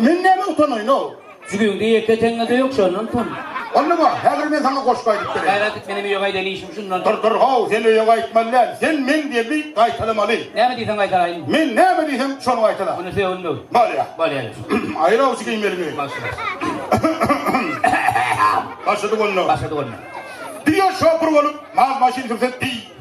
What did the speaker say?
Men näme utanaýyn-ow? Jübüňde ýeke teňňe-de ýok, şondan utan. Onda bar, häzir men saňa goşgy aýdyp bereýin. Häl aýdyp, menem öýe gaýdaýyn, işim şundan. Dur, dur, how, sen öýe gaýtmaly däl. Sen meň derdi gaýtalamaly. Näme diýseň gaýtalaýyn. Men näme diýsem, şony gaýtala. Onda sögünmek. Bolýa. Bolýa diýip. Aýyl awçy geýmeliňi. Başlady. Başlady onda. Başlady onda. Diýe şopur bolup, mal-maşyn sürse diý.